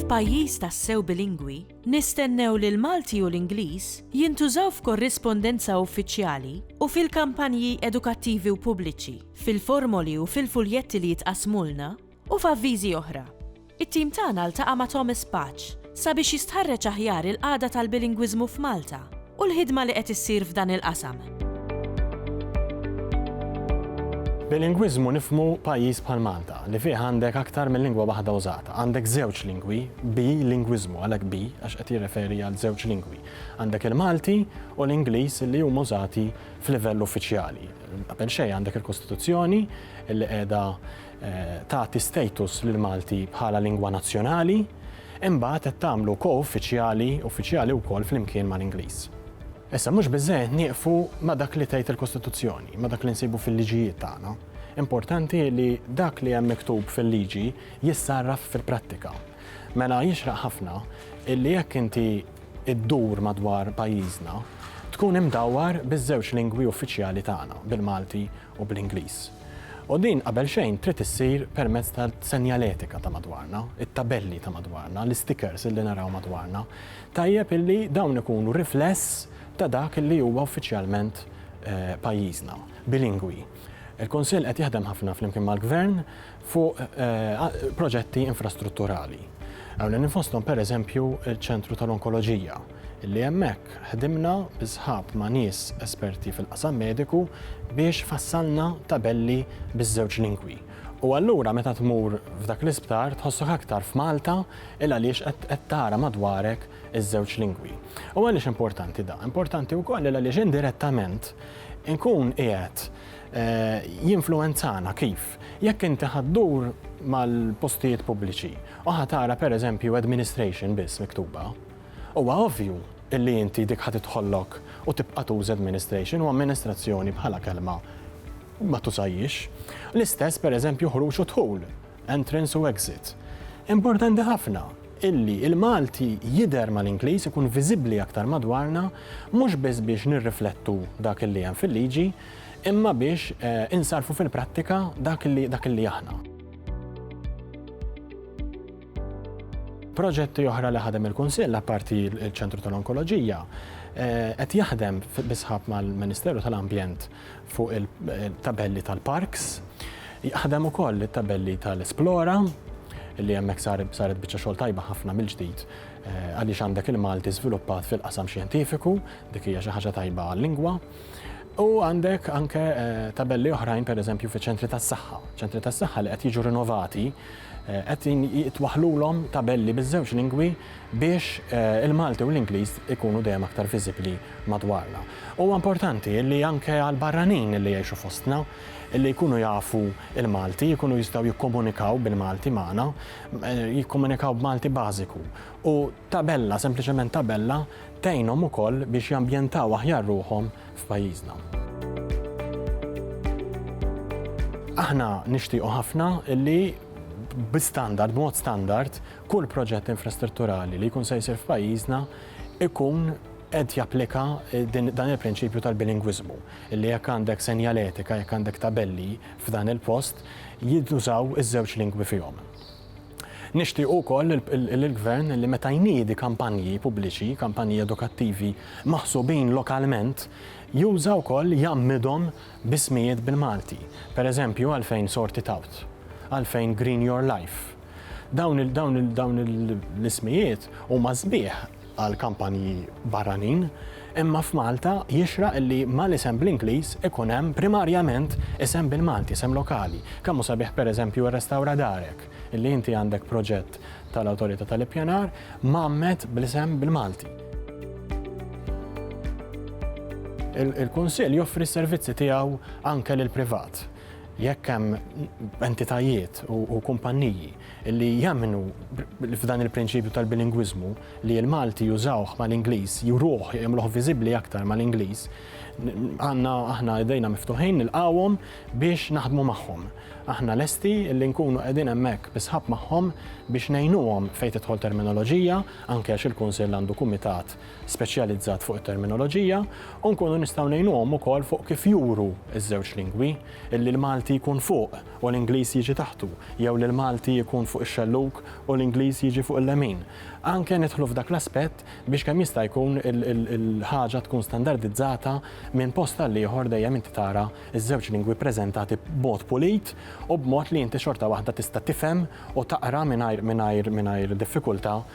F'pajjiż tassew bilingwi, nistennew li l-Malti u l-Ingliż jintużaw f'korrispondenza uffiċjali u fil-kampanji edukattivi u pubbliċi, fil-formoli u fil-fuljetti li jitqassmulna, U f'avviżi oħra, it-tim tagħna ltaqa' ma' Thomas Paċ sabiex jistħarreġ aħjar il-qagħda tal-bilingwiżmu f'Malta u l-ħidma li qed issir f'dan il-qasam. Bilingwiżmu nifhmu pajjiż bħal Malta, li fih għandek aktar minn lingwa waħda użata. Għandek żewġ lingwi, bi-lingwiżmu, għalhekk bi għax qed jirreferi għal żewġ lingwi. Għandek il-Malti u l-Ingliż li huma użati f'livell uffiċjali. Qabel xejn għandek il-Kostituzzjoni li qiegħda tagħti status lill-Malti bħala lingwa nazzjonali, imbagħad qed tagħmlu ko-uffiċjali, uffiċjali wkoll flimkien mal-Ingliż. Issa, mhux biżżejjed nieqfu ma' dak li tgħid il-Kostituzzjoni, ma' dak li nsibu fil-liġijiet tagħna. Importanti li dak li hemm miktub fil-liġi jissarraf fil-prattika. Mela jixraq ħafna illi jekk inti ddur madwar pajjiżna, tkun imdawwar biż-żewġ lingwi uffiċjali tagħna, bil-Malti u bl-Ingliż. U din qabel xejn trid issir permezz tal-senjaletika ta' madwarna, it-tabelli ta' madwarna, l-istikers li naraw madwarna. Tajjeb illi dawn ikunu rifless ta' dak li huwa uffiċjalment pajjiżna, bilingwi. Il-Kunsill qed jaħdem ħafna flimkien mal-Gvern fuq proġetti infrastrutturali. Ewlenin fosthom pereżempju ċ-Ċentru tal-Onkoloġija, li hemmhekk ħdimna bis-sħab ma' nies esperti fil-qasam mediku biex fassalna tabelli biż-żewġ lingwi. U allura meta tmur f'dak l-isptar tħossok aktar f'Malta 'l għaliex qed tara madwarek iż-żewġ lingwi. U għaliex importanti dan? Importanti wkoll 'l għaliex indirettament inkun qiegħed jinfluwenzana kif? Jekk inti ħa ddur mal-postijiet pubbliċi u ħa tara pereżempju administration biss miktuba, huwa ovvju illi inti dik ħa tidħollok u tibqa' tuża administration u amministrazzjoni bħala kelma ma tużajhiex. L-istess pereżempju ħruġ u dħul, entrance u exit. Importanti ħafna illi l-Malti jidher mal-Ingliż ikun viżibbli aktar madwarna mhux biss biex nirriflettu dak illi hemm fil-liġi, imma biex insarrfu fil-prattika dak li dak li aħna. Proġetti oħra li ħadem il-Kunsill, apparti l-Ċentru tal-Onkoloġija, qed jaħdem bi sħab mal-Ministeru tal-Ambjent fuq il-tabelli tal-parks, jaħdem ukoll it-tabelli tal-Esplora, li hemmhekk saret biċċa xogħol tajba ħafna mill-ġdid għaliex għandek il-Malti żviluppat fil-qasam xjentifiku, dik hija xi ħaġa tajba għal-lingwa. U għandek anke tabelli oħrajn pereżempju fi ċentri tas-saħħa. Ċentri tas-saħħa li qed jiġu rinovati qed jitwaħħlulhom tabelli biż-żewġ lingwi biex il-Malti u l-Ingliż ikunu dejjem aktar viżibbli madwarna. Huwa importanti li anke għall-barranin li jgħixu fostna li jkunu jafu l-Malti, jkunu jistgħu jikkomunikaw bil-Malti magħna, jikkomunikaw b'Malti bażiku u Tabella, sempliċement tabella, tgħinhom ukoll biex jambjentaw aħjar ruħhom f'pajjiżna. Aħna nixtiequ ħafna li bi standard, b'mod standard, kull proġett infrastrutturali li jkun se jsir f'pajjiżna ikun qed japplika eh, dan il-prinċipju tal-bilingwiżmu, li jekk għandek senjaletika, jekk għandek tabelli f'dan il-post, jiddużaw iż-żewġ lingwi fihom. Nixtiequ wkoll li l-Gvern li meta jniedi kampanji pubbliċi, kampanji edukattivi maħsubin lokalment, juża wkoll jgħammidhom b'ismijiet bil-Malti. Pereżempju għalfejn Sort It Out? Għalfejn Green Your Life? Dawn il-dawn il-dawn il-ismijiet huma sbieħ. għal kampanji barranin, imma f'Malta jixraq li mal-isem bl-Ingliż ikun hemm primarjament isem bil-Malti, isem lokali. Kemm hu sabiħ pereżempju ir-Restawra Darek, illi inti għandek proġett tal-Awtorità tal-Ippjanar mgħammed bl-isem bil-Malti. Il-Kunsill joffri s-servizzi tiegħu anke lill-privat. Jekk hemm entitajiet u kumpanniji li jemmnu f'dan il-prinċipju tal-bilingwiżmu li l-Malti jużawh mal-Ingliż, juruh, jagħmluh viżibbli aktar mal-Ingliż, għandna aħna idejna miftuħin nilqgħuhom biex naħdmu magħhom. Aħna lesti li nkunu qegħdin hemmhekk bi sħab magħhom biex ngħinuhom fejn tidħol terminoloġija, anke għax il-Kunsill għandu kumitat speċjalizzat fuq it-terminoloġija, u nkunu nistgħu ngħinuhom ukoll fuq kif juru ż-żewġ lingwi, li l-Malti jkun fuq. u l-Ingliż jiġi taħtu, jew li l-Malti jkun fuq ix-xellug u l-Ingliż jiġi fuq il-lemin. Anke nidħlu f'dak l-aspett biex kemm jista' jkun il-ħaġa tkun standardizzata minn post għal ieħor dejjem inti tara ż-żewġ lingwi ppreżentati b'mod pulit u b'mod li inti xorta waħda tista' tifhem u taqra mingħajr diffikultà